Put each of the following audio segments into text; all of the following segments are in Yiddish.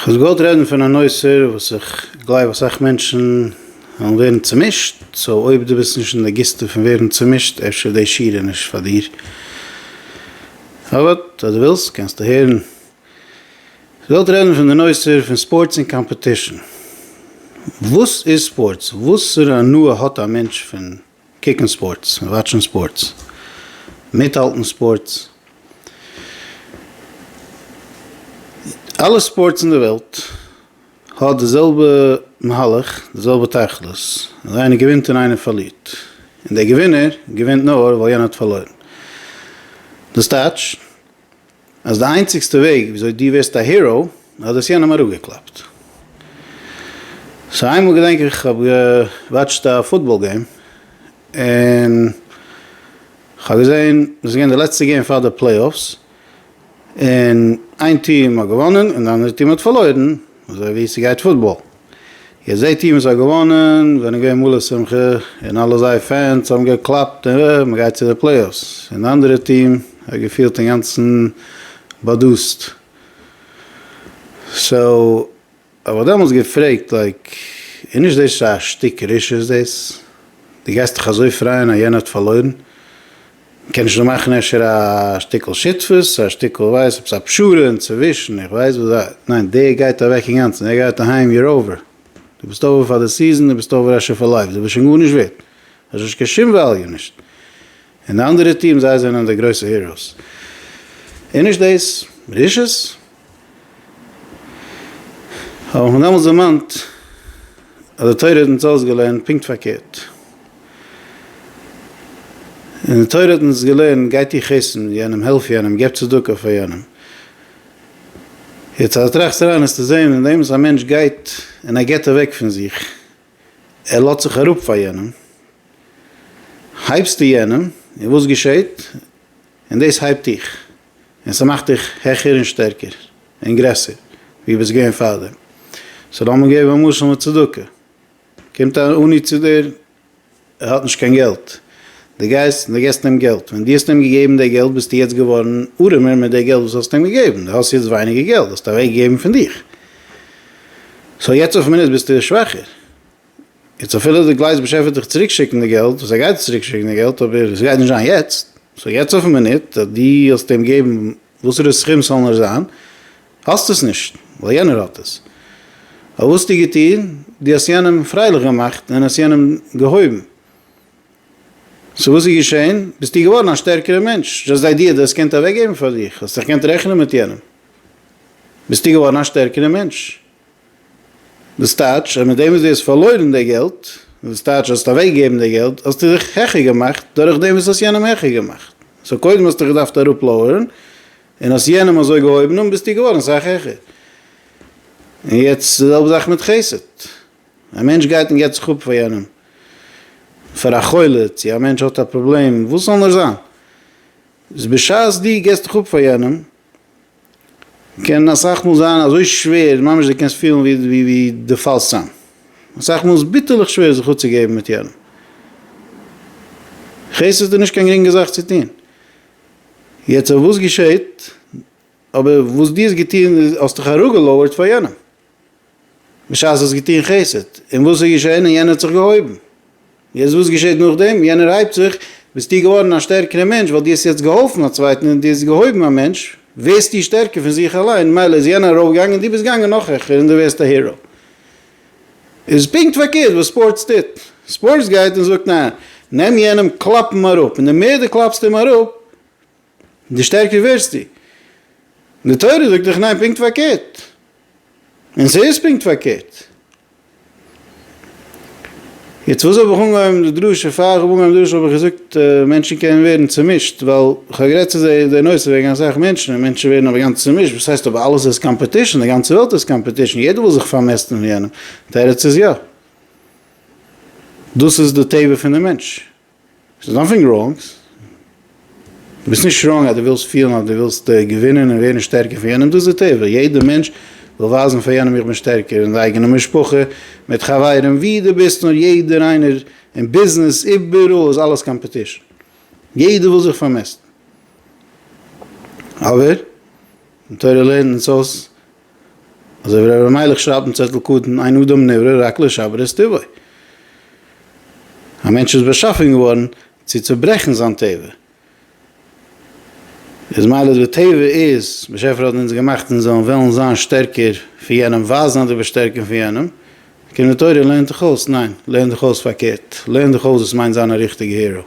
כ'וואלט געוואלט רעדן פון א נושא וואס איך גלייב אסאך מענטשן וועלן ווערן צומישט, סאו אויב דו ביסט נישט אין די גיסטע פון ווערן צומישט אפשר איז די שיעור נישט פאר דיר, אבער אויב דו ווילסט קענסטו הערן. כ'וואלט רעדן פון די נושא פון ספארטס און קאמפעטישן. וואס איז ספארטס? וואסערע הנאה האט א מענטש פון קוקן ספארטס, וואטשן ספארטס, מיטהאלטן ספארטס, אלע ספארטס אין די וועלט האט די זעלבע מהלך, די זעלבע תכלית, אז איינער געווינט און איינער פארלירט, און דער געווינער געווינט נאר ווייל יענער האט פארלוירן, דאס טייטש, אז די איינציגסטע וועג וויאזוי דו ווערסט א היראו אז דו האסט יענעם אראפגעקלאפט. סאו איינמאל געדענק איך כ'האב געוואטשט א פוטבאל געים און כ'האב געזען דאס איז געווען די לעצטע געים פאר די פלעי אפס און איין טיעם האט געוואנען און די אנדערע טיעם האט פארלוירן אזוי ווי ס'גייט פוטבאל. איר זעט איר וואס האט געוואנען זענען געווען מלא שמחה און אלע זייער פענס האבן געקלאפט און ר' מען גייט צו די פלעיאפס און די אנדערע טיעם האט געפילט אינגאנצן באדאסט סאו האב איך דעמאלטס געפרעגט לייק איז נישט דאס א שטיק רשעות דאס? דו גייסט דיך אזוי פרייען אז יענער האט פארלוירן? מ'קען נישט דא מאכן אפשר א שטיקל שותפות, א שטיקל ווייס עפעס א פשרה אינצווישן, איך ווייס וואס א, ניין דער גייט אוועק אינגאנצן, דער גייט אהיים, יור אווער, דו ביסט אווער פאר די סיזען, דו ביסט אווער אפשר פאר לייף, דו ביסט שוין גארנישט ווערט, דו האסט נישט קיין שום וועליו נישט, און די אנדערע טיעם זיי זענען די גרויסע היראוס, איז נישט דאס רשעות? האב איך מיר דעמאלס דערמאנט אז די תורה האט אונז אויסגעלערנט פונקט פארקערט. און די תורה האט אונז געלערנט גיי טו חסד יענעם, העלף יענעם, געב צדקה פאר יענעם. יעצט אז די טראכסט אריין וועסטו זען אינדעם וואס א מענטש גייט און ער געבט אוועק פון זיך, ער לאזט זיך אראפ פאר יענעם, הייבסטו יענעם און וואס געשעט? און דאס הייבט דיך. און ס'מאכט דיך העכער און שטערקער און גרעסער ווי ביסט געווען פארדעם. סאו לאמיר געבן א משל מיט צדקה. קומט אן עני צו דיר, ער האט נישט קיין געלט, דו גייסט און דו געבסט אים געלט. ווען דו האסט אים געגעבן די געלט ביסטו יעצט געווארן ארעמער מיט די געלט וואס האסט אים געגעבן. דו האסט יעצט ווייניגער געלט, דו האסט אוועקגעגעבן פון דיך. סאו יעצט אויף מינוט ביסטו שוואכער. יעצט אפילו די גלייז באשעפער וועט דיך צוריק שיקן די געלט, וואס ער גייט צוריק שיקן די געלט, אבער עס גייט נישט זיין יעצט, סאו יעצט אויפן מינוט, אז דו האסט אים געבן וואסערע סכום ס'זאל נאר זיין, האסט עס נישט, ווייל יענער האט עס. אבער וואס האסטו געטון? דו האסט יענעם פרייליך געמאכט און האסט יענעם געהויבן. סאו וואס איז געשען? ביסטו געווארן א שטערקערע מענטש, דזשאסט די איידיע אז דו האסט געקענט אוועקגעבן פאר דיך, האסט דיך געקענט רעכענען מיט יענעם, ביסטו געווארן א שטערקערע מענטש. דאס טייטש אז מיט דעם וואס דו האסט פארלוירן די געלט, דאס טייטש האסט אוועק געגעבן די געלט, האסטו זיך העכער געמאכט דורך דעם וואס האסט יענעם העכער געמאכט. סאו קודם האסטו געדארפט אראפ לאוערן, און האסט יענעם אזוי געהויבן אן ביסטו געווארן אסאך העכער. און יעצט די זעלבע זאך מיט חסד. א מענטש גייט און געבט זיך אפ פאר יענעם, פאר א חולה, צו א מענטש האט א פראבלעם, וואס ס'זאל נאר זיין. איז בשעת דו געסט דיך אפ פאר יענעם, קען אסאך מאל זיין אזוי שווער ממש די קענסט פילן ווי די פאלסט צאם, אסאך מאל איז ביטערליך שווער זיך אפצוגעבן מיט יענעם, כעס איז דא נישט קיין גרינגע זאך צו טון, יעצט אויב וואס געשעהט אויב וואס דו האסט געטון איז האסט דיך אראפגעלויערט פאר יענעם, בשעת האסט געטון חסד, און וואס איז געשען? און יענער האט זיך געהויבן. יעצט וואס געשעט נאכדעם? יענער הייבט זיך, ביסטו געווארן א שטערקערע מענטש ווייל דו האסט יעצט געהאלפן א צווייטן און דו האסט געהויבן א מענטש, ווערסטו שטערקער פון זיך אליין, מילא איז יענער ארויפגעגאנגען און דו ביסט געגאנגען נאך העכער און דו ווערסט א הירא. איז פונקט פארקערט וואס ספארטס טוט. ספארטס גייט און זאגט ניין, נעם יענעם קלאפ אים אראפ, און די מער דו קלאפסט אים אראפ, די שטערקער ווערסטו. די תורה זאגט דאך ניין פונקט פארקערט. און ס'איז פונקט פארקערט. יעצט וואס האב איך אנגעהויבן די דרשה? פאר איך האב אנגעהויבן די דרשה האב איך געזאגט מענטשן קענען ווערן צומישט, ווייל כ'האב גערעדט צו זיי די נושא וועגן אסאך מענטשן און מענטשן ווערן אבער גאנץ צומישט, וואס הייסט אבער אלעס איז קאמפעטישן, די גאנצע וועלט איז קאמפעטישן, יעדער וויל זיך פארמעסטן מיט יענעם. תירוץ איז יא. דאס איז די טבע פון די מענטש. עס איז נאטינג ראנג, דו ביסט נישט ראנג אז דו ווילסט פילן אז דו ווילסט געווינען און ווערן שטערקער פון יענעם, דאס איז די טבע, יעדער מענטש וויל ווייזן פאר יענעם איך בין שטערקער, אין די אייגענע משפחה, מיט חברים, ווי דו ביסט נאר, יעדער איינער, אין ביזנעס, איבעראל איז אלעס קאמפעטישן, יעדער וויל זיך פארמעסטן, אבער די תורה לערנט אונז אויס אזוי ווי ר' אלימלך שרייבט אין צעטל קטן, אין אדם נברא רק לשבר את טבעו. א מענטש איז באשאפן געווארן צו צוברעכן זיין טבע. איז מילא די טבע איז, באשעפער האט אונז געמאכט אונז זאלן וועלן זיין שטערקער פון יענעם, ווייזן אז דו ביסט שטערקער פון יענעם. קום די תורה און לערנט דיך אויס, ניין, לערן דיך אויס פארקערט, לערן דיך אויס וואס מיינט זיין א ריכטיגע היראו.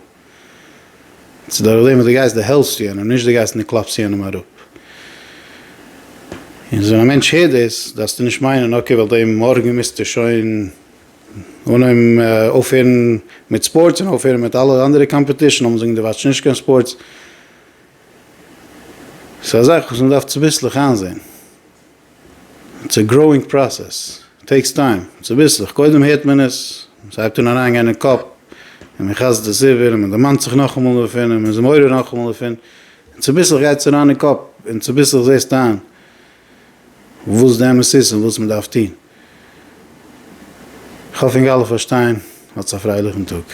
צו דורך דעם וואס דו גייסט דערהעלפסטו יענעם, נישט דו גייסט און דו קלאפסט יענעם אראפ. און ווען א מענטש הערט דאס, דארפסטו נישט מיינען אקעי ווייל דעם מארגן מוזטו שוין אנהויבן אויפהערן מיט ספארטס און אויפהערן מיט אלע אנדערע קאמפעטישן, לאמיר זאגן דו וואטש נישט קיין ספארטס. ס'איז א זאך וואס מ'דארף צוביסלעך איינזען. ס'איז א גראואינג פראסעס, טעיקס טיים, צוביסלעך, קודם הערט מען עס, ס'הייבט אן אריינגיין אין קאפ, און מען חזר'ט עס איבער, און מען דערמאנט זיך נאכאמאל דערפון, און מען איז מעורר נאכאמאל דערפון, און צוביסלעך גייט עס אריין אין קאפ, און צוביסלעך זעסטו איין וואס די אמת איז און וואס מען דארף טון. כ'האף אונז אלע פארשטייען, האטס א פרייליכן טאג.